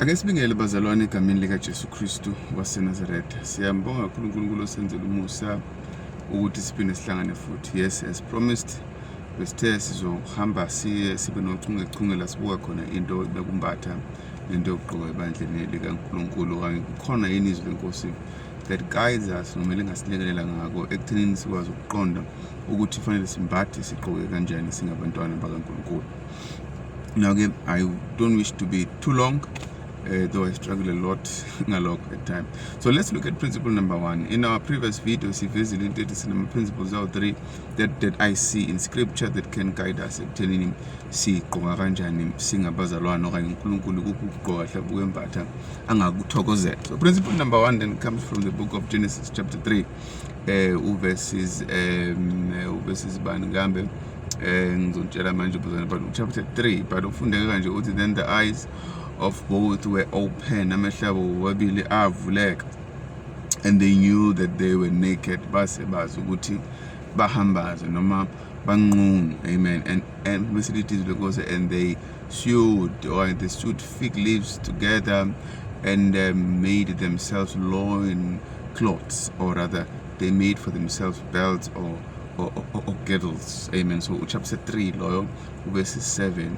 Ake sibingele bazalwane egameni likaJesu Kristu waseNazaretha. Siyambonga kakhulu uNkulunkulu osenzela umusa ukuthi siphinde sihlangane futhi. Yes, as promised besithe sizohamba siye sibe nochungechunge la sibuka khona into bekumbatha nento yokugqoka ebandleni likaNkulunkulu okanye kukhona yini izwi lenkosi that guides us noma lingasilekelela ngako ekuthenini sikwazi ukuqonda ukuthi fanele simbathe sigqoke kanjani singabantwana bakaNkulunkulu. now again i don't wish to be too long uh, though I struggle a lot ngalokho at time so let's look at principle number one in our previous video sivezile into ethi sinama principles awu three that, that I see in scripture that can guide us ekuthenini sigqoka kanjani singabazalwane okanye uNkulunkulu kuphi ukugqoka hle ukwembatha angakuthokozela so principle number one then comes from the book of Genesis chapter 3 eh uverses um uverses bani kambe eh ngizotshela manje ubuzana but chapter 3 but ufundeke kanje uthi then the eyes of both were open amehlo abo wabili avuleka and they knew that they were naked base bazi ukuthi bahambaze noma banqunu amen and and bese lithi lenkosi and they sewed or they sewed fig leaves together and um, made themselves loin cloths or rather they made for themselves belts or or, or, or girdles amen so uchapter 3 loyo ubese 7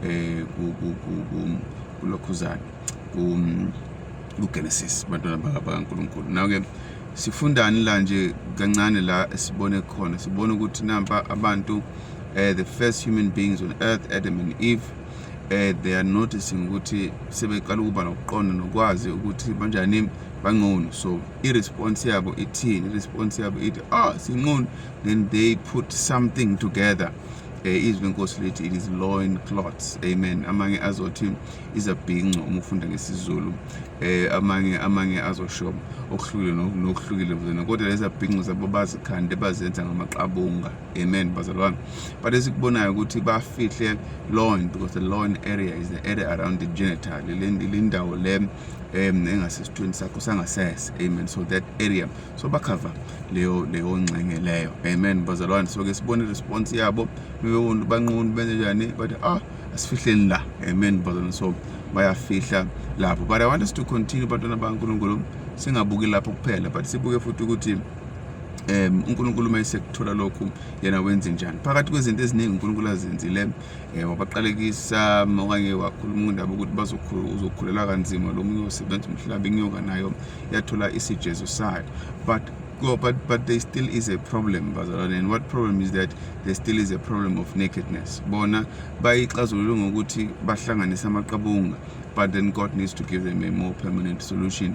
eh kulokhuzana kuGenesis bantwana bakaNkuluNkulu now ke sifundani la nje kancane la esibone khona sibone ukuthi nampa abantu uh, the first human beings on earth Adam and Eve uh, they are noticing ukuthi sebeqala ukuba nokuqonda nokwazi ukuthi banjani bangcono so i-response yabo ithini i-response yabo ithi ah oh, singcono then they put something together um eh, izwi lenkosi lithi it is loin clots amen amanye azothi izabhinco uma ufunda ngesizulu um amanye amanye azosho okuhlukile nokuhlukile kodwa lezabhinco zabo bazikhande bazenza ngamaqabunga amen bazalwane but esikubonayo ukuthi bafihle loin because the loin area is the area around the genital lindawo le um engasesithweni sakho sangasese amen so that area so bakhava leyo leyo ngxenge leyo amen bazalwane so ke sibone response yabo bebewona banqunu benze njani but ah asifihleni la amen bazalwane so bayafihla lapho but i want us to continue bantwana bankulunkulu singabuki lapho kuphela but sibuke futhi ukuthi um uNkulunkulu uma esekuthola lokhu yena wenze njani phakathi kwezinto eziningi uNkulunkulu azenzile um eh, wabaqalekisa um, okanye wakhuluma indaba ukuthi uzokhulelwa kanzima lo munye osebenza umhlaba inyoka nayo yathola isijezo sayo but go but but there still is a problem bazalwane and what problem is that there still is a problem of nakedness bona bayixazulule ngokuthi bahlanganise amaqabunga but then God needs to give them a more permanent solution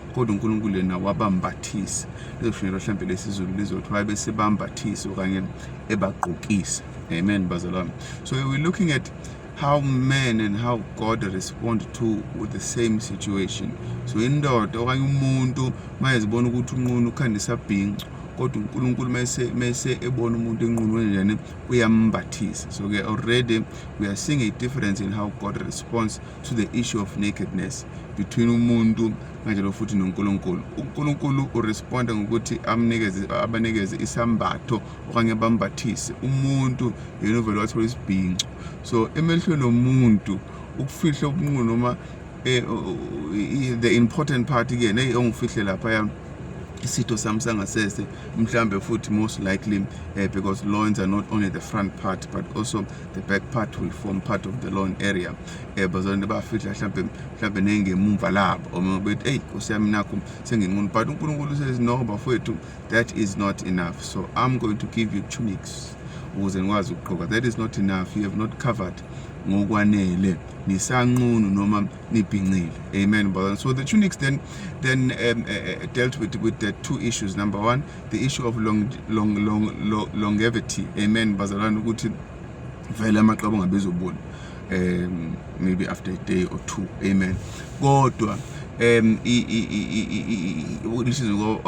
kodwa uNkulunkulu yena wabambathisa lezoshunyelwa mhlawumbe lesizulu lizothi wabe sebambathisa okanye ebagqokisa amen bazalwane so we're looking at how men and how God respond to with the same situation so indoda okanye umuntu mayezibona ukuthi unqunu ukhandisa bhincu kodwa uNkulunkulu mese mese ebona umuntu enqunweni njani uyambathisa so ke already we are seeing a difference in how God responds to the issue of nakedness between umuntu kanjalo futhi noNkulunkulu uNkulunkulu uresponda ngokuthi amnikeze abanikeze isambatho okanye bambathise umuntu yena uvele wathola isibhinco so emehlweni omuntu ukufihla ubunqunu noma eh, the important part ke neyi ongifihle lapha yami isitho sami sangasese mhlambe futhi most likely uh, because loins are not only the front part but also the back part will form part of the lawn area eh bazonde bafihla mhlambe mhlambe nengemumva labo uma bethi hey nkosi yami nakho senginqunu but uNkulunkulu says no bafowethu that is not enough so i'm going to give you tunics ukuze nikwazi ukugqoka that is not enough you have not covered ngokwanele nisanqunu noma nibhincile amen brother so the tunics then then um, uh, dealt with with the two issues number one the issue of long, long, long, long, longevity amen bazalwane ukuthi vele amaqaba ungabezobona um maybe after a day or two amen kodwa um lisizwe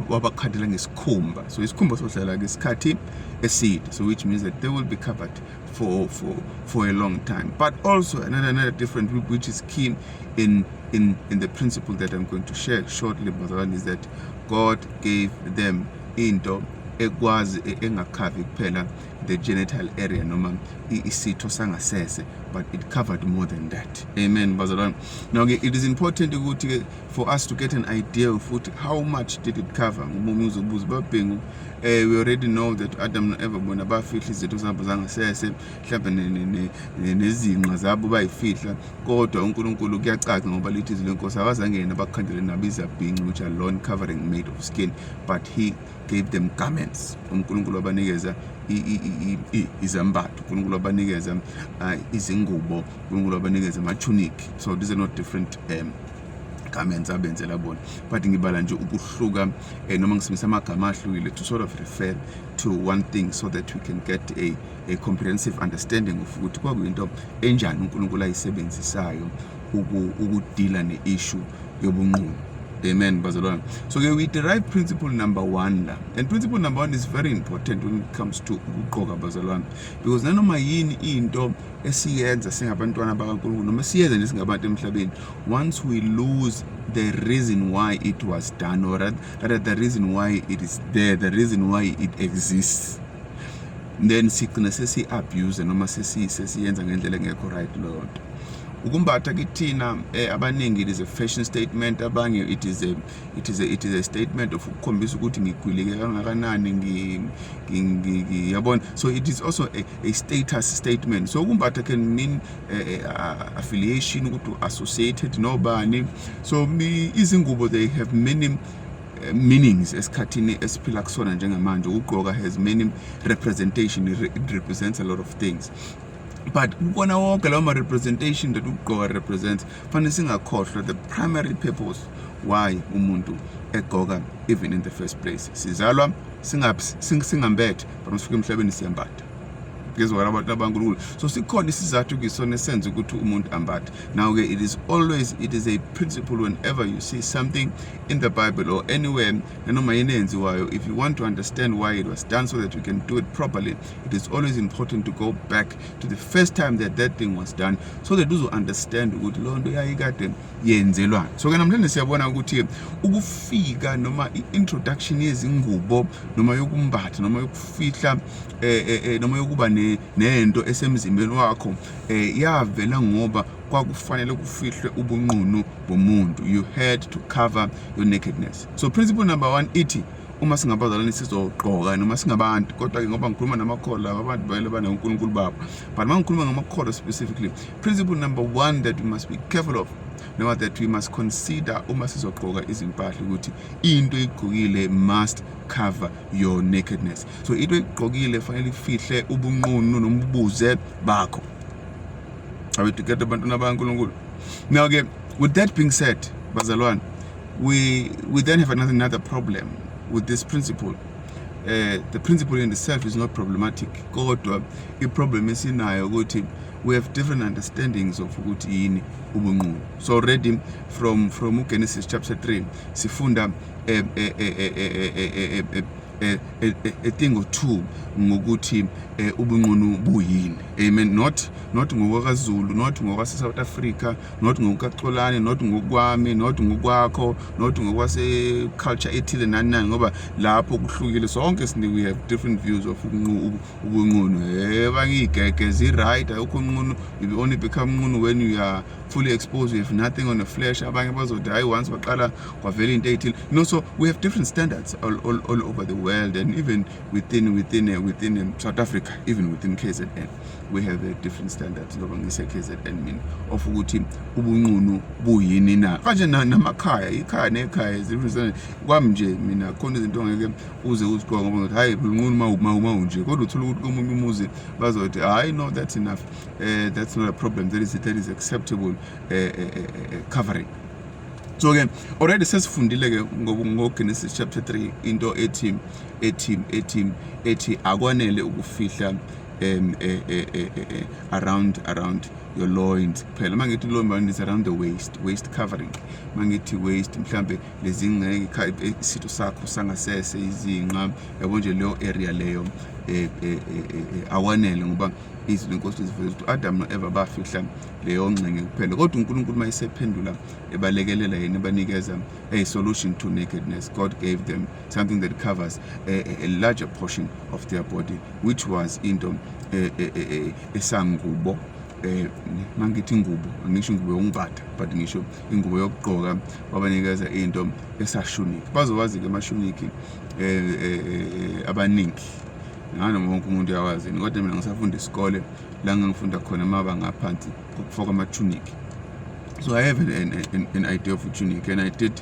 wabakhathela ngesikhumba so isikhumba sohlala ngesikhathi eside so which means that they will be covered for for for a long time but also another another different group which is keen in in in the principle that i'm going to share shortly bazalwane is that God gave them into ekwazi e, engakhavi kuphela the genital area noma isitho sangasese but it covered more than that amen bazalwane now ke it is important ukuthi ke for us to get an idea of ukuthi how much did it cover ngoba umuntu uzobuza babhengu eh we already know that Adam no Eva bona bafihla izinto zabo zangasese mhlawumbe nezinqa zabo bayifihla kodwa uNkulunkulu kuyacaca ngoba lithi izwi lenkosi akazange yena bakhandele nabo izabhinci which are lawn covering made of skin but he gave them garments uNkulunkulu wabanikeza izambatho uNkulunkulu wabanikeza uh, izingubo uNkulunkulu wabanikeza ama-tunic so these are not different um, garments abenzela bona but ngibala nje ukuhluka um noma ngisebenzisa amagama ahlukile to sort of refer to one thing so that we can get a a comprehensive understanding of ukuthi kwakuyinto enjani uNkulunkulu ayisebenzisayo ukudila ne-issue yobunqunu amen bazalwane so ke we derive principle number one la and principle number one is very important when it comes to ukuqoka bazalwane because nanoma yini into esiyenza singabantwana bakankulunkulu noma siyenza nje singabantu emhlabeni once we lose the reason why it was done or rather the reason why it is there the reason why it exists then sigcine sesi-abuse noma sesiyenza ngendlela engekho right leyo nto ukumbatha kithina eh, abaningi it is a fashion statement abanye it is a it is a it is a statement of ukukhombisa ukuthi ngigwilike kangakanani ngi yabona so it is also a, a status statement so ukumbatha can mean uh, affiliation ukuthi associated nobani so izingubo they have many eh, meanings esikhathini esiphila kusona njengamanje ukugqoka has many representation it represents a lot of things but kukona wonke lawo ma-representation that ukugqoka represents fanele singakhohlwa the primary purpose why umuntu egqoka even in the first place sizalwa singambethe but masifika emhlabeni siyambatha ngezwakala abantu abankulunkulu so sikhona isizathu kisona esenza ukuthi umuntu ambathe now-ke it is always it is a principle whenever you see something in the Bible or anywhere nanoma yini eyenziwayo if you want to understand why it was done so that you can do it properly it is always important to go back to the first time that that thing was done so that uzo understand ukuthi loo nto yayikade yenzelwani so ke namhlanje siyabona ukuthi ukufika noma i-introduction yezingubo noma yokumbatha noma yokufihla eh, eh, eh, noma yokuba nento esemzimbeni wakho eh, yavela ngoba kwakufanele kufihlwe ubunqunu bomuntu you had to cover your nakedness so principle number one ithi uma singabazalwane sizogqoka noma singabantu kodwa-ke ngoba ngikhuluma namakholwa laba abantu vele banonkulunkulu babo but uma ngikhuluma ngamakholwa specifically principle number one that we must be careful of noma that we must consider uma sizogqoka izimpahla ukuthi into igqokile must cover your nakedness so into igqokile fanele ifihle ubunqunu nobubuze bakho I will get abantwana bakaNkulunkulu. Now ke with that being said, bazalwane, we we then have another, another problem with this principle. Uh, the principle in itself is not problematic kodwa i-problem esinayo ukuthi we have different understandings of ukuthi yini ubunqunu so already from from ugenesis chapter 3 sifunda eh, eh, eh, a thing or two ngokuthi ubunqunu buyini amen not not ngokwakazulu not ngokwase-south africa not ngokukaxolane not ngokwami not ngokwakho not ngokwase-culture ethile nani nani ngoba lapho kuhlukile sonke sine we have different views of ubunqunu heba ngiyigege zi-right ayokho unqunu you only become unqunu when you are fully exposed you have nothing on the flesh abanye bazothi hayi once waqala kwavela into eyithile you know so we have different standards all, all, all over the world and even within within uh, within um, South Africa even within KZN we have uh, different standards ngoba ngise KZN mina of ukuthi ubunqunu buyini na kanje namakhaya ikhaya nekhaya different kwami nje mina khona izinto ngeke uze uziqoka ngoba ngathi hayi ubunqunu ma uma uma unje kodwa uthola ukuthi komunye umuzi bazothi hayi no that's enough uh, that's not a problem that is that is acceptable uh, uh, uh, uh, covering so ke already sesifundile ke ngoGenesis chapter 3 into ethi ethi ethi ethi akwanele ukufihla um eh, eh, eh, around around your loins kuphela uma ngithi loin bani is around the waist waist covering uma ngithi waist mhlambe lezingeke isitho sakho sangasese izinqa yabo nje leyo area leyo eh, eh, eh, awanele ngoba izwi lenkosi liziveza ukuthi u-adamu no-eva bafihla leyo ngxenye kuphela kodwa unkulunkulu uma esephendula ebalekelela yena ebanikeza a solution to nakedness god gave them something that covers a, a larger portion of their body which was into esangubo eh mangithi ingubo angisho ingubo yokumbatha but ngisho ingubo yokugqoka wabanikeza into esashuniki bazowazi ke amashuniki eh, eh, eh abaningi nganoma wonke umuntu uyawazi kodwa mina ngisafunda isikole la ngangifunda khona amabanga aphansi kokufoka amatunic so i have an, an, an idea of a tunic and i did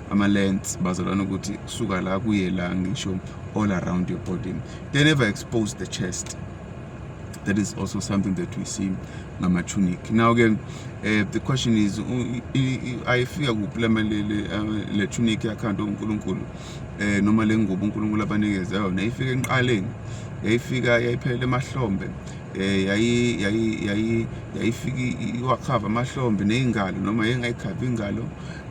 ama-lens bazalwana ukuthi kusuka la kuye la ngisho all around your body they never expose the chest that is also something that we see ngama-tunic now ke eh, the question is ayifika kuphi le tunic yakhanda unkulunkulu um eh, noma le ngubo unkulunkulu abanikeze yona yayifika enqaleni yayifika yayiphelele emahlombe eh yayi yayi yayi yayifika iwakhava amahlombe nezingalo noma yengayikhava ingalo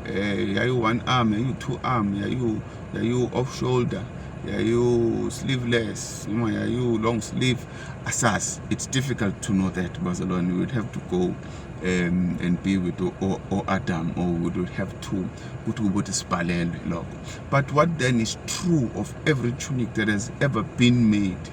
eh yayu one arm yayu two arm yayu yayu off shoulder yayu sleeveless noma yayu long sleeve asas it's difficult to know that bazalwane we would have to go um, and be with o, o Adam or we would have to ukuthi ukuthi sibhalelwe lokho but what then is true of every tunic that has ever been made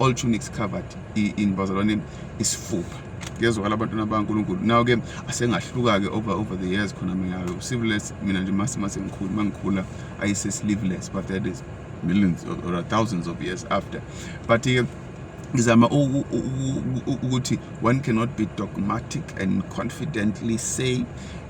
all tunics covered in bazalwane isifuba kuyezwakala abantwana bankulunkulu nawo ke asengahluka-ke over over the years khona miyayo sleeveless mina nje mase mase ngikhulu uma ngikhula ayise sleeveless but that is millions or thousands of years after but ke ngizama ukuthi one cannot be dogmatic and confidently say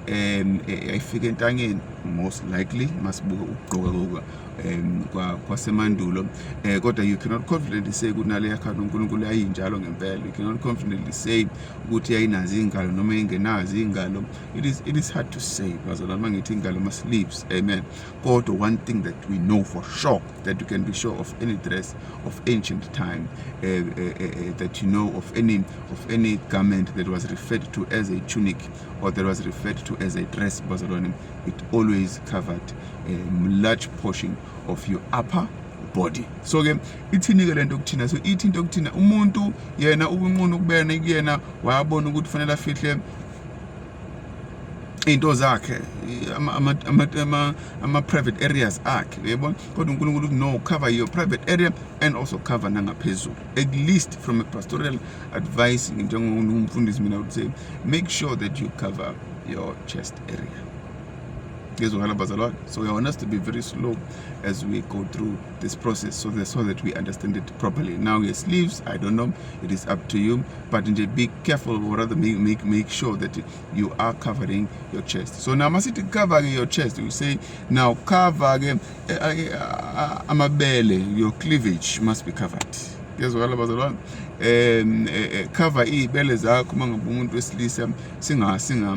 um ayifike entangeni most likely masibuke ukugqoka um kwasemandulo um kodwa you cannot confidently say ukuthi nale yakhanda unkulunkulu yayinjalo ngempela you cannot confidently say ukuthi yayinazo iy'ngalo noma ingenazo iy'ngalo it is, it is hard to say bazalwa uma ngithi iy'ngalo ama-sleeves amen kodwa one thing that we know for sure that you can be sure of any dress of ancient time uh, uh, uh, that you know of any, of any garment that was referred to as a tunic or that was referred to as a dress bazalwane it always covered a um, large portion of your upper body so ke ithini ke lento kuthina so ithi into kuthina umuntu yena ubunqunu kubena kuyena wayabona ukuthi fanele afihle into zakhe ama-private areas akhe uyayibona kodwa unkulunkulu uthi no cover your private area and also cover nangaphezulu at least from a pastoral advice njengomfundisi mina would say make sure that you cover your chest area ngizwakala bazalwane so i want us to be very slow as we go through this process so that, so that we understand it properly now yes leaves i don't know it is up to you but nje be careful or rather make, make, make sure that you are covering your chest so now masithi cover your chest you say now cover ke eh, eh, eh, amabele your cleavage must be covered ngezwakala bazalwane um cover iy'bele zakho uma ngabe umuntu wesilisa singa singa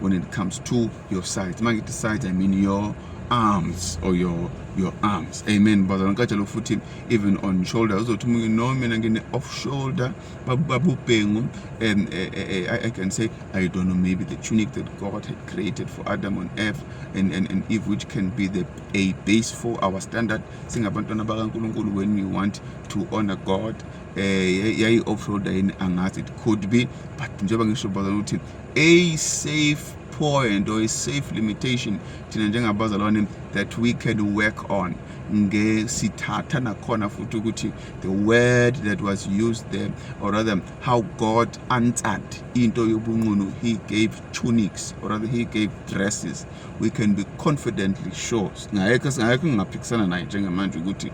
when it comes to your sides uma ngithi sides i mean your arms or your your arms amen bazalwane ngicatshela futhi even on shoulder uzothi umuntu no mina ngine off shoulder babubhengu um eh, eh, eh, I, I can say I don't know maybe the tunic that God had created for Adam on earth and, and, and Eve which can be the, a base for our standard singabantwana bakaNkulunkulu when we want to honor God eh yayi off shoulder yini angazi it could be but njengoba ngisho bazalwane ukuthi a safe point or a safe limitation thina njengabazalwane that we can work on ngesithatha nakhona futhi ukuthi the word that was used there or rather how god answered into yobunqunu he gave tunics or rather he gave dresses we can be confidently sure singayekho singayekho ngingaphikisana naye njengamanje ukuthi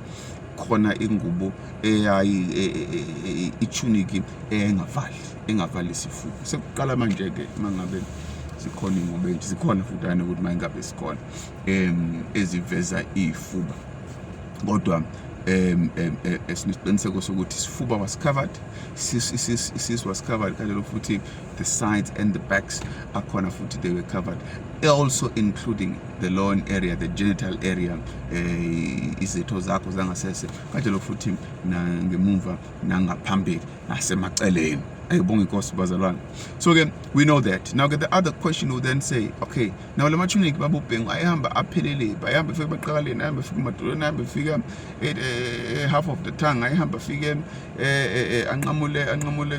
khona ingubo eyayi e, e, e, ichuniki engavali engavali isifuba sekuqala manje ke mangabe zikhona ingobe nje zikhona futhi ayena ukuthi mayingabe sikhona em eziveza ifuba kodwa em em esiqiniseko sokuthi isifuba was covered sis sis sis was covered kanjalo futhi the sides and the backs akhona futhi they were covered also including the loan area the genital area eh, izitho zakho zangasese kanjalo futhi nangemumva nangaphambili nasemaceleni ayibonga inkosi bazalwane so ke we know that now ke the other question will then say okay now la matunic babubhengu ayihamba aphelele bayihamba fike baqakaleni ayihamba fike madolweni ayihamba fike eh, eh, half of the tongue ayihamba fike anqamule anqamule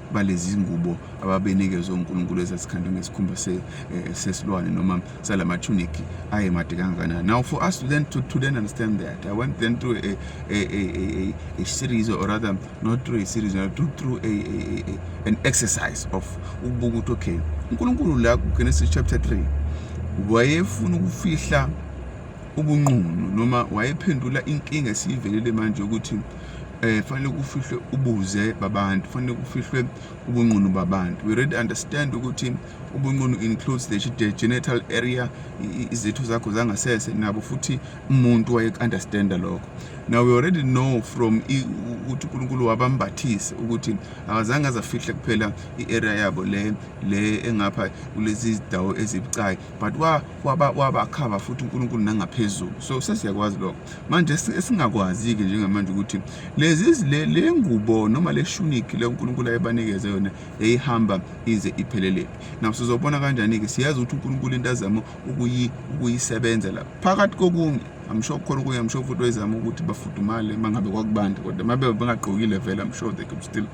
balezi ngubo ababenikezwe uNkulunkulu ezasikhandwe ngesikhumba se, eh, sesilwane noma salamathuniki ayemade kangakanani now for us to then to, to then understand that i went then through a, a, a, a, a series or rather not through a series or through, through a, a, a, an exercise of ukubuka ukuthi okay uNkulunkulu la kuGenesis chapter 3 wayefuna ukufihla ubunqunu noma wayephendula inkinga esiyivelele manje ukuthi eh fanele kufihlwe ubuze babantu fanele kufihlwe ubunqunu babantu we really understand ukuthi ubunqunu includes the, the genital area izitho zakho zangasese nabo futhi umuntu waye understand lokho now we already know from ukuthi uNkulunkulu wabambathise ukuthi akazange azafihle kuphela i-area yabo le le engapha kulezi zidawo ezibucayi but waba wabakhaba futhi uNkulunkulu nangaphezulu so sesiyakwazi lokho manje esingakwazi-ke njengamanje ukuthi lezi le ngubo noma le shuniki le unkulunkulu ayebanikeze yona yayihamba ize iphelelele nawo sizobona kanjani-ke siyazi ukuthi unkulunkulu into azama ukuyisebenza la phakathi kokunye amsho khona okunye amsho futhi wayezama ukuthi bafudumale uma ngabe kwakubanda kodwa uma bebe bengagqokile vele amsho they could still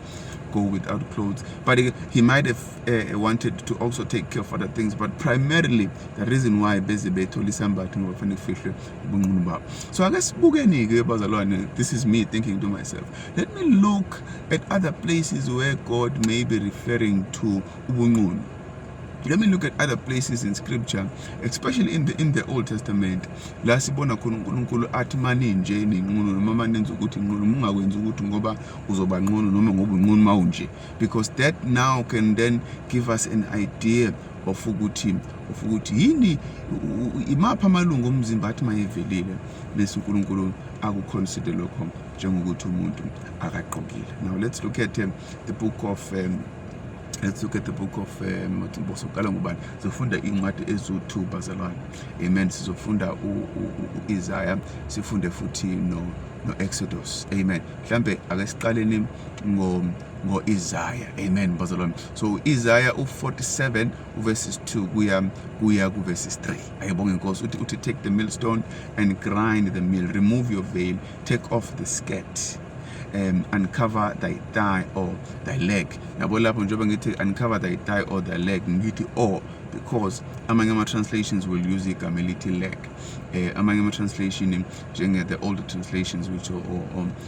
go without clothes but he might have uh, wanted to also take care of other things but primarily the reason why beze bethole isambatho ngoba fanele kufihlwe ubunqunu babo so ake sibukeni-ke bazalwane this is me thinking to myself let me look at other places where god may be referring to ubunqunu let me look at other places in scripture especially in the, in the old testament la sibona khona unkulunkulu athi maninje ninqunu noma manenza ukuthi nqunu mungakwenzi ukuthi ngoba uzoba nqunu noma ngoba unqunu mawunje because that now can then give us an idea of ukuthi of ukuthi yini imapha amalungu omzimba athi mayevelile bese uNkulunkulu akuconsider lokho njengokuthi umuntu akaqokile now let's look at um, the book of um, let's look at the book of um, soqala ngubani sizofunda incwadi ezu-2 bazalwane amen sizofunda u-isaya sifunde futhi no no-exodus amen mhlambe ake siqaleni ngo ngo-Isaya amen bazalwane so u-Isaya u-47 uverses 2 kuya kuya kuverses 3 ayibonge inkosi uthi uthi take the millstone and grind the mill remove your veil take off the skirt um, uncover thy thigh or thy leg yabo lapho njengoba ngithi uncover thy thigh or thy leg ngithi or because amanye ama-translations will use igama elithi leg um amanye ama-translation njenge-the older translations which or, or,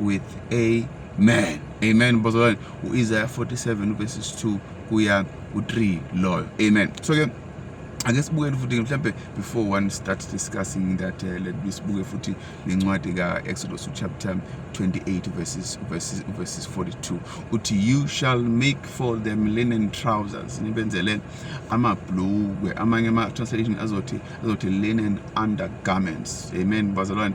with amen amen bazalwane u-isaya 47 verses 2 kuya ku-3 loyo amen so ke ake sibukele futhi mhlambe before one start discussing that uh, let me sibuke futhi nencwadi ka-exodus chapter 28 verses, verses, verses 42 uthi you shall make for them linen trousers nibenzele amabhlukwe amanye ama-translation azothi azothi linen undergarments amen bazalwane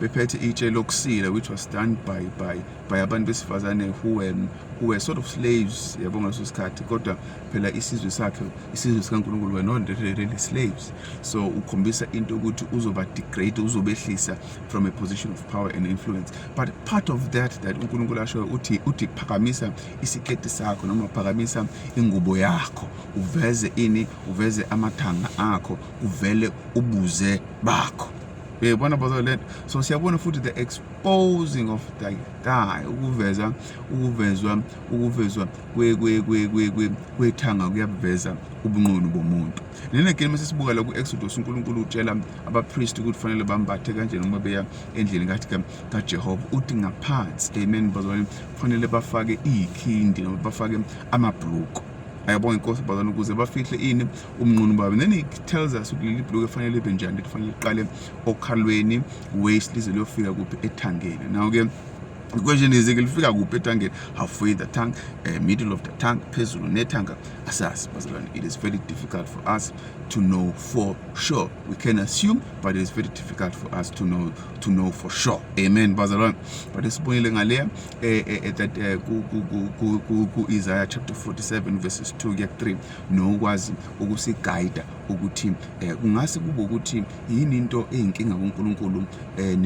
bephethe itshe lokusila which was done by by by abantu besifazane who were, who were sort of slaves yabo ngaleso sikhathi kodwa phela isizwe sakhe isizwe sikankulunkulu were not really slaves so ukhombisa into yokuthi uzoba degrade uzobehlisa from a position of power and influence but part of that that unkulunkulu ashoyo uthi uthi phakamisa isiketi sakho noma phakamisa ingubo yakho uveze ini uveze amathanga akho uvele ubuze bakho uyayibona bazo le so siyabona futhi the exposing of the guy ukuveza ukuvezwa ukuvezwa kwethanga kuyabuveza ubunqunu bomuntu nene game sesibuka la ku-exodus unkulunkulu utshela abapriest ukuthi kufanele bambathe kanjena uma beya endlini kathi kajehova uthi ngaphansi amen bazalwane kufanele bafake iyikhindi noma bafake amabhuluko ayabonga inkosi bazalwane ukuze bafihle ini umnqunu baba then he tells us ukuthi leli bhuluku efanele libe njani lifanele liqale okhalweni waist lize liyofika kuphi ethangeni now ke question is ke lifika kuphi ethangeni halfway the tank uh, eh, middle of the tank phezulu nethanga asazi bazalwane it is very difficult for us to know for sure we can assume but it is very difficult for us to know to know for sure amen bazalwane but esibonile ngaleya eh, eh, eh that ku Isaiah chapter 47 verses 2 ke 3 nokwazi ukusigayida ukuthi eh, kungase kube ukuthi yini into eyinkinga kuNkulunkulu eh,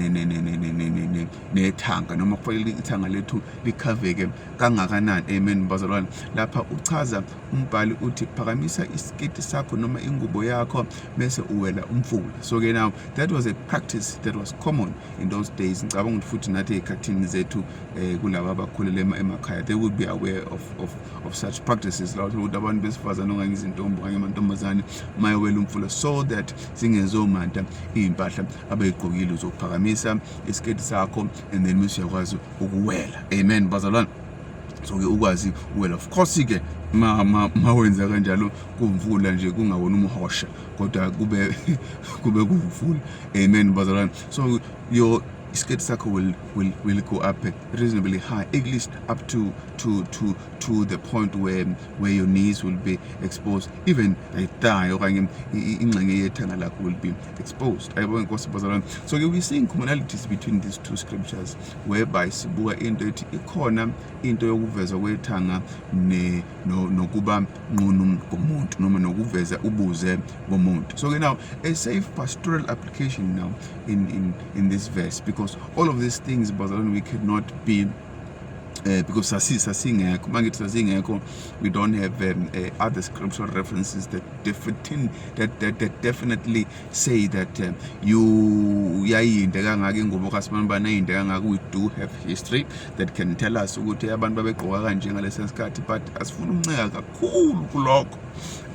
nethanga noma kufanele ithanga lethu likhaveke kangakanani amen bazalwane lapha uchaza umbhali uthi phakamisa isiketi sakho noma ingubo yakho bese uwela umfula so ke now that was a practice that was common in those days ngicabanga ukuthi futhi nathi ezikhathini zethu eh, kulaba abakhulele emakhaya they would be aware of, of of such practices la ukuthi abantu besifazane okanye izintombi okanye amantombazane mayewela umfula so that zingezomanta iy'mpahla abeyigqokile uzokuphakamisa isiketi sakho and then mese uyakwazi ukuwela amen bazalwane so-ke ukwazi well of course-ke ma, ma, ma wenza kanjalo kumvula nje kungawona umhosha kodwa kube kube kumvula amen bazalwane so your isiketi sakho will, will, will go up reasonably high, at least up to to to to the point where where your knees will be exposed, even a thigh or in ingxenye will be exposed. I won't go So you'll be seeing commonalities between these two scriptures, whereby sibuka into ethi ikhona into yokuvezwa kwethanga ne no nokuba nqunu komuntu noma nokuveza ubuze bomuntu. So now a safe pastoral application now in in in this verse because all of these things bazalwane we cannot be uh, because sasi sasingekho uma ngithi sasingekho we don't have um, uh, other scriptural references that, defitin, that, that, that definitely say that um, you yayinde kangaka ingubo kasimane bani ayinde kangaka we do have history that can tell us ukuthi abantu babegqoka kanje ngalesi sikhathi but asifuna ukunceka kakhulu kulokho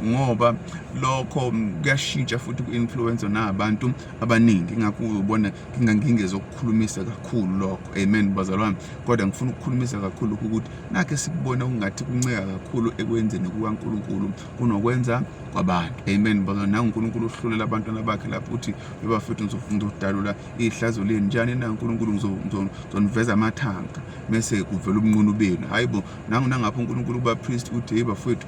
ngoba lokho kuyashintsha futhi ku-influence nabantu abaningi ingakho ubona ngingangingezokukhulumisa kakhulu lokho amen bazalwane kodwa ngifuna ukukhulumisa kakhulu ukuthi nakhe sikubona kungathi kunceka kakhulu ekwenzeni kukaNkulunkulu kunokwenza kwabantu amen bazalwane nangu uNkulunkulu uhlulela abantwana bakhe lapho uthi bebafethu ngizodalula ihlazo leni njani na uNkulunkulu ngizoniveza amathanga mese kuvela ubunqunu benu hayibo nangu nangapho uNkulunkulu kubapriest uthi hey bafethu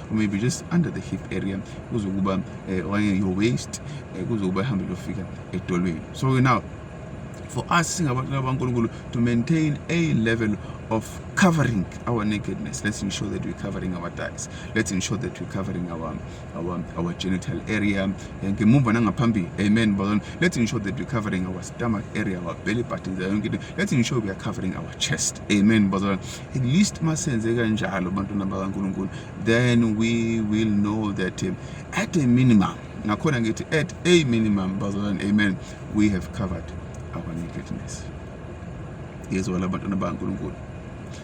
maybe just under the hip area kuzokuba eh, okanye your waist eh, kuzokuba ihambe lofika edolweni so now for us singabantu abankulunkulu to maintain a level of covering our nakedness let's ensure that we're covering our thighs let's ensure that we're covering our our, our genital area ngemumva nangaphambili amen bazalwane let's ensure that we're covering our stomach area our belly button yonke into let's ensure we are covering our chest amen bazalwane at least masenze kanjalo bantwana bakaNkulunkulu then we will know that um, at a minimum nakhona ngithi at a minimum bazalwane amen we have covered our nakedness yezwa la bantwana bakaNkulunkulu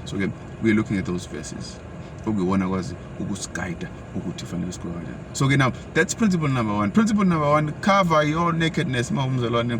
so ke we are looking at those verses okuyiwona kwazi ukusiguida ukuthi fanele sikwenze kanjani so ke now that's principle number one principle number one cover your nakedness uma umzalwane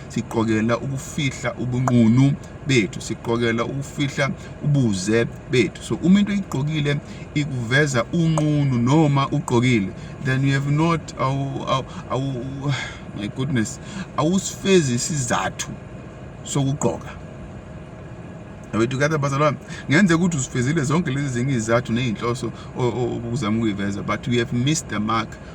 siqokela ukufihla ubunqunu bethu siqokela ukufihla ubuze bethu so uma into igqokile ikuveza unqunu noma ugqokile then you have not awu awu my goodness awusifezi isizathu sokugqoka Abethu kade bazalwane ngenze ukuthi usifezile zonke lezi zingi izathu nezinhloso obuzama ukuyiveza but we have missed the mark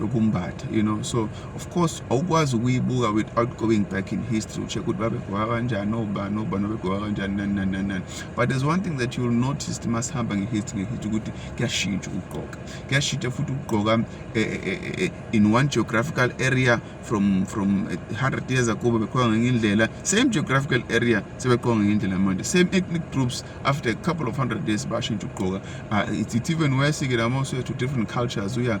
yokumbatha you know so of course awukwazi ukuyibuka without going back in history ucheck ukuthi babegwaka kanjani obani obani babegwaka kanjani nani nani nani nani but there's one thing that you'll notice masihamba ngehistory ngehistory ukuthi kuyashintsha ukugqoka kuyashintsha futhi ukugqoka eh, eh, eh, in one geographical area from from 100 years ago babegqoka ngenye indlela same geographical area sebegqoka ngenye indlela manje same ethnic groups after a couple of hundred years bashintsha ukugqoka ah, it's even worse ke lama to different cultures uya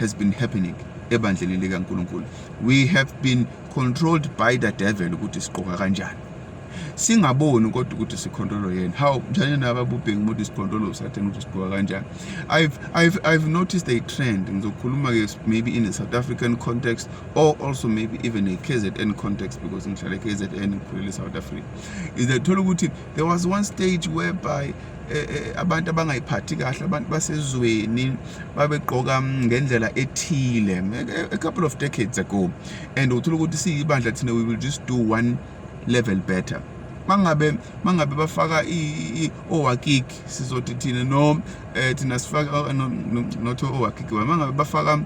has been happening ebandleni likaNkulunkulu we have been controlled by the devil ukuthi siqoka kanjani singaboni kodwa ukuthi sikhontrolo yena how njani naba bubhengi ukuthi sikhontrolo usathane ukuthi sigqoka kanjani i've i've i've noticed a trend ngizokhuluma ke maybe in a south african context or also maybe even a KZN context because ngihlala KZN ngikhulele south africa is that thola ukuthi there was one stage whereby eh, eh, abantu abangayiphathi kahle abantu basezweni babegqoka mm, ngendlela ethile eh, a couple of decades ago and uthola ukuthi siyibandla thina we will just do one level better mangabe mangabe bafaka owakiki sizothi thina no thina sifaka not owakiki mangabe bafaka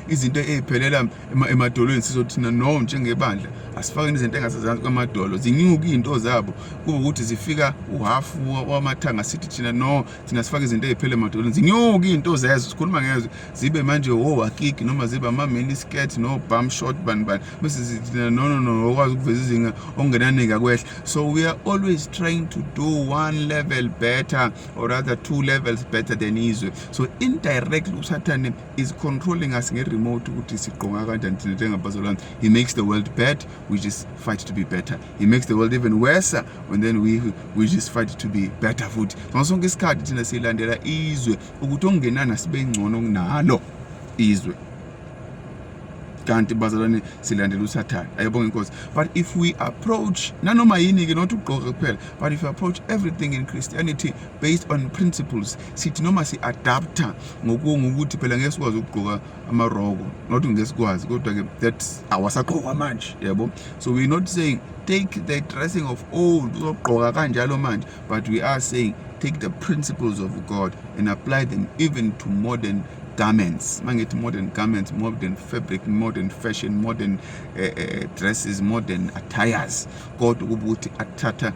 izinto eziphelela emadolweni sizothina no njengebandla asifakeni izinto engasezansi kwamadolo zinyuke izinto zabo kube ukuthi zifika uhafu wamathanga sithi thina no thina sifake izinto eziphele emadolweni zinyuke izinto zezo sikhuluma ngezwe zibe manje wo akiki noma zibe ama mini skirt no bum short bani bani bese zithina no no no okwazi ukuveza izinga ongenanike kwehla so we are always trying to do one level better or rather two levels better than izwe so indirectly usathane is controlling us nge-remote ukuthi sigqonga kanjani thina njengabazalwane he makes the world bad we just fight to be better he makes the world even worse and then we, we just fight to be better futhi ngaso sonke isikhathi thina siyilandela izwe ukuthi okungenana sibe ngcono kunalo izwe kanti bazalwane silandela usathane ayebonga inkosi but if we approach nanoma yini-ke not ukugqoka kuphela but if we approach everything in christianity based on principles sithi noma si-adapta ngokungukuthi phela ngeke sikwazi ukugqoka amaroko not ngeke sikwazi kodwa-ke that awasagqokwa manje yabo so we're not saying take the dressing of old uzogqoka kanjalo manje but we are saying take the principles of god and apply them even to modern garments uma ngithi modern garments modern fabric modern fashion modern uh, uh, dresses modern attires kodwa ukuba ukuthi athatha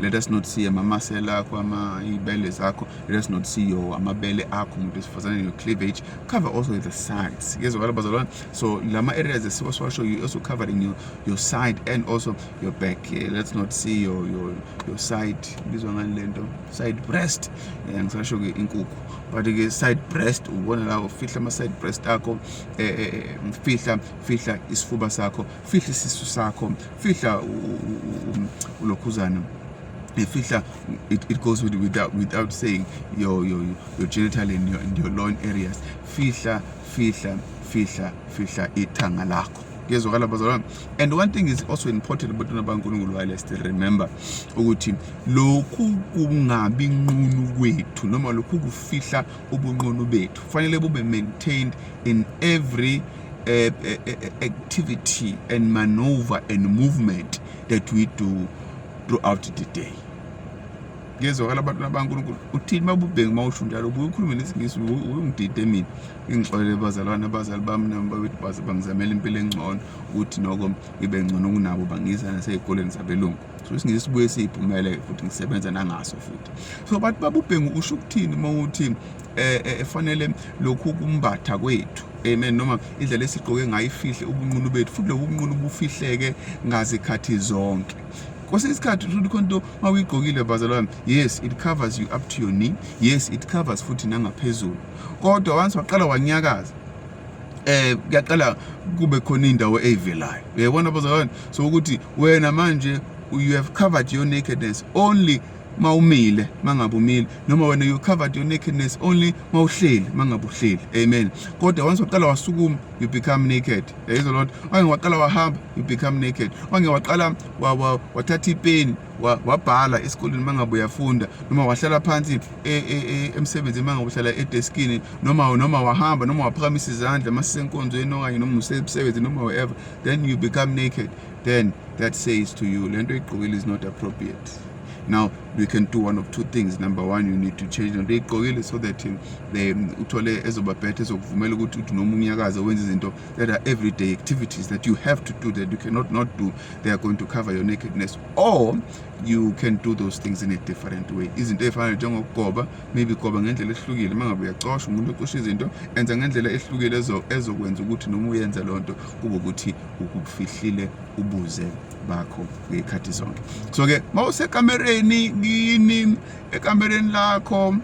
let us not see amamasela akho ama ibele zakho let us not see your amabele akho umuntu wesifazane your cleavage cover also the sides yezwakala bazalwane so lama areas esiwa siwasho you also covering your, your side and also your back yeah, let's not see your, your, your side bizwa ngani lento side breast yeah, ngisasho ke inkukhu but ke side breast ubona la ufihla ama side breast akho eh, eh, eh fihla fihla isifuba sakho fihla isisu sakho fihla ulokhuzana fihla it, it goes with, without, without saying your, your, your genital and your, and your loin areas fihla fihla fihla fihla ithanga lakho kuyezwakala bazalwane and one thing is also important abantwana bankulunkulu while still remember ukuthi lokhu kungabi nqunu kwethu noma lokhu kufihla ubunqunu bethu kufanele bube maintained in every uh, activity and maneuver and movement that we do throughout the day ngezwakala abantwana bankulunkulu uthini babubheki uma usho njalo ubuye ukhulume nesingisi uyungidide mina ingixolele bazalwane abazali bami nami babethi baze bangizamela impilo engcono ukuthi noko ngibe ngcono kunabo bangiza nasey'koleni zabelungu so isingisi sibuye siyiphumele futhi ngisebenza nangaso futhi so bathi babubhengu usho ukuthini uma uthi um eh, eh, efanele lokhu kumbatha kwethu amen noma indlela esigqoke ngayo ifihle ubunqunu bethu futhi lobu bunqunu bufihleke ngazikhathi zonke kwesinye isikhathi uthi khona into uma uyigqokile bazalwane yes it covers you up to your knee yes it covers futhi nangaphezulu kodwa once waqala wanyakaza eh kuyaqala kube khona indawo eyivelayo uyayibona bazalwane so ukuthi wena manje you have covered your nakedness only mawumile mangabe umile noma wena you covered your nakedness only mawuhleli mangabe uhleli amen kodwa once waqala wasukuma you become naked praise the lord once waqala wahamba you become naked once waqala wathatha ipeni wabhala esikoleni mangabe uyafunda noma wahlala phansi e, e, e, emsebenzini uma ngabe uhlala edeskini noma noma wahamba noma waphakamisa izandla uma sisenkonzweni okanye noma usemsebenzini noma wherever then you become naked then that says to you le nto igqokile is not appropriate now we can do one of two things number one you need to change lento igqokile so that um, the um, uthole ezoba better ezokuvumela ukuthi uthi noma unyakaze wenze izinto that are everyday activities that you have to do that you cannot not do they are going to cover your nakedness or you can do those things in a different way izinto ey'fana njengokugoba maybe goba ngendlela ehlukile uma ngabe uyacosha umuntu ocosha izinto enza ngendlela ehlukile ezokwenza ukuthi noma uyenza loo nto kube ukuthi ukufihlile ubuze bakho ngey'khathi zonke so-ke uma usekamereni kini ekamereni lakho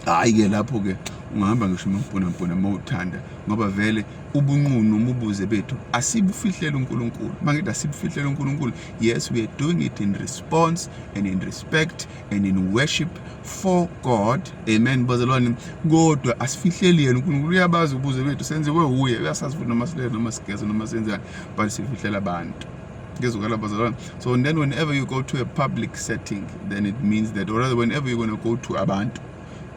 hhayi-ke lapho-ke ungahamba ngisho umampunampunha uma uthanda ngoba vele ubunqunu umubuze bethu asibufihlele unkulunkulu uma ngithi asibufihlele unkulunkulu Yes, we are doing it in response and in respect and in worship for God. Amen. Bazalwane, kodwa asifihleli yena uNkulunkulu uyabazi ubuze bethu senziwe uye uyasazi futhi noma silele noma sigeze noma senzani but sifihlela abantu. ngezokala bazalwane so and then whenever you go to a public setting then it means that or rather whenever you're going to go to abantu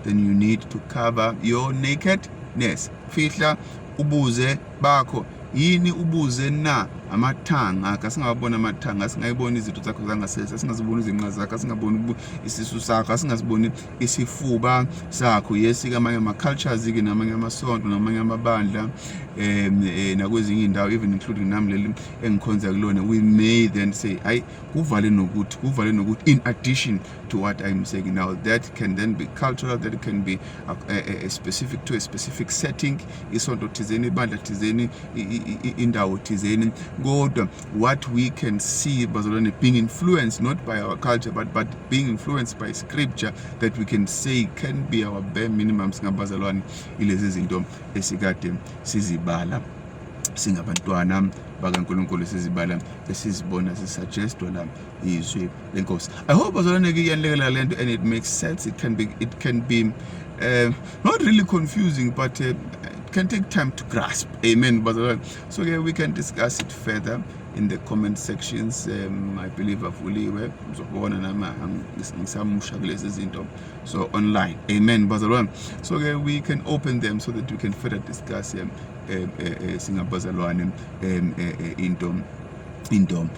then you need to cover your nakedness fihla ubuze bakho yini ubuze na amathanga kasingawabona amathanga asingayiboni izinto zakho zangasese asingaziboni izinqa zakho asingaboni isisu sakho asingaziboni isifuba sakho yesi kamanye ama-cultures ke namanye amasonto namanye amabandla um nakwezinye indawo even including nami leli engikhonza kulona we may then say hayi kuvale nokuthi kuvale nokuthi in addition to what I'm saying now. That can then be cultural, that can be a, a, a specific to a specific setting, isonto thizeni, ibandla thizeni, indawo thizeni. God, what we can see bazalwane being influenced not by our culture but but being influenced by scripture that we can say can be our bare minimum singabazalwane ilezi zinto esikade sizibala singabantwana bakaNkulunkulu sizibala esizibona sisuggestwa la izwi lenkosi i hope bazalwane ke iyanlekelela lento and it makes sense it can be it can be uh, not really confusing but uh, it can take time to grasp amen bazalwane so yeah, we can discuss it further in the comment sections um, i believe avuliwe uzobona nami ngisamusha kulezi zinto so online amen bazalwane so ke we can open them so that we can further discuss um, um, uh, uh, singabazalwane um, uh, uh, into into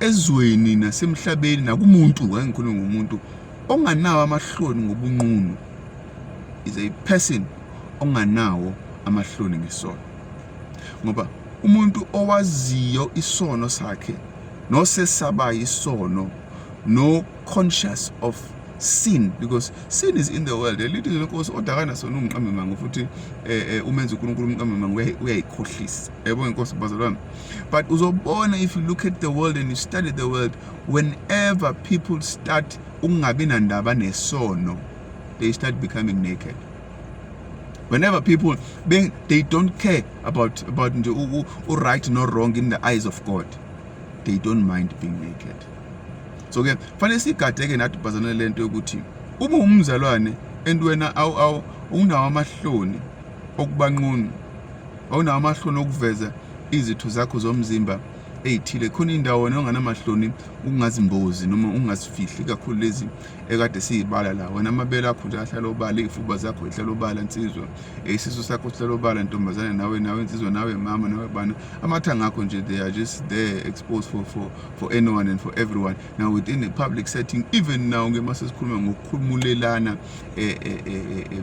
ezweni nasemhlabeni nakumuntu ngeke ngikhulume ngomuntu onganawo amahloni ngobunqunu is a person onganawo amahloni ngesono ngoba umuntu owaziyo isono sakhe nosesabayo isono no conscious of sin because sin is in the world elithi lenkosi odakana sona umqambe manga futhi eh, eh, umenza uNkulunkulu umqambe manga uyayikhohlisa yabo inkosi bazalwane but uzobona if you look at the world and you study the world whenever people start ukungabi nandaba nesono they start becoming naked whenever people they, they don't care about about nje right no wrong in the eyes of god they don't mind being naked so ke fanele sigade ke nathi bazalwane lento yokuthi uma umzalwane and wena awu awu unawo amahloni okubanqunu awunawo amahloni okuveza izitho zakho zomzimba eyithile khona indawo wena onganamahloni ukungazimbozi noma ungazifihli kakhulu lezi ekade siyibala la wena amabele akho nje ahlala obala iy'fuba zakho ihlala obala nsizwa isisu sakho sihlala obala ntombazane nawe nawe nsizwa nawe mama nawe bana amathanga akho nje they are just there exposed for, for, for anyone and for everyone now within a public setting even now ke masesikhuluma ngokukhulumulelana eh, eh, eh, eh, eh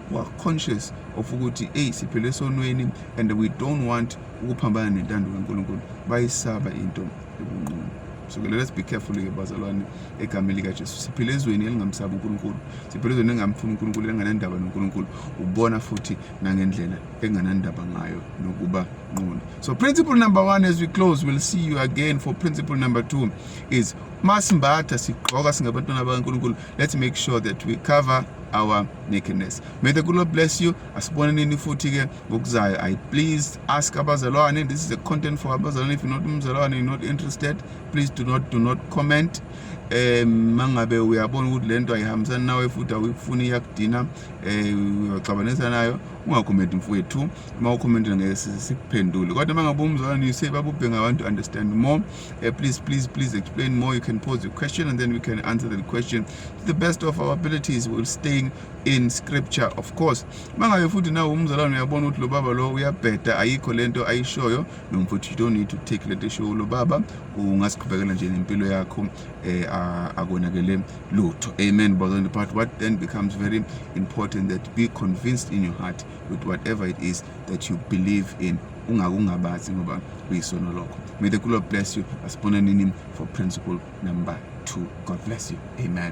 who are conscious of ukuthi eyi siphele esonweni and we don't want ukuphambana nentando kaNkulunkulu bayisaba into ebunqunu so ke let's be careful ke bazalwane egameni likaJesu siphile ezweni elingamsabi uNkulunkulu siphile ezweni engamfuni uNkulunkulu enganandaba noNkulunkulu ubona futhi nangendlela enganandaba ngayo nokuba nqunu so principle number 1 as we close we'll see you again for principle number 2 is masimbatha sigqoka singabantwana bakaNkulunkulu let's make sure that we cover our nakedness may the good lord bless you asiboneneni futhi ke ngokuzayo i please ask abazalwane this is a content for abazalwane if you're not umzalwane you're not interested please do not do not comment um mangabe uyabona ukuthi lento ayihambisani nawe futhi awuyifuni iyakudina um uyoxabanisa nayo ungakhomenti mfowethu uma ukhomentile ngeke sikuphendule kodwa mangabe umzalwane you say babubhe ngabantu understand more uh, please please please explain more you can pose your question and then we can answer the question to the best of our abilities we'll staying in scripture of course mangabe futhi nawe umzalwane uyabona ukuthi lo baba lo uyabheda ayikho lento ayishoyo nomfuthu you don't need to take lento eshoyo lo baba ungasiqhubekela nje nempilo yakho eh akonakele lutho amen brother and part what then becomes very important that be convinced in your heart with whatever it is that you believe in ungakungabazi ngoba kuyisono lokho may the good bless you asibonanini for principle number two god bless you amen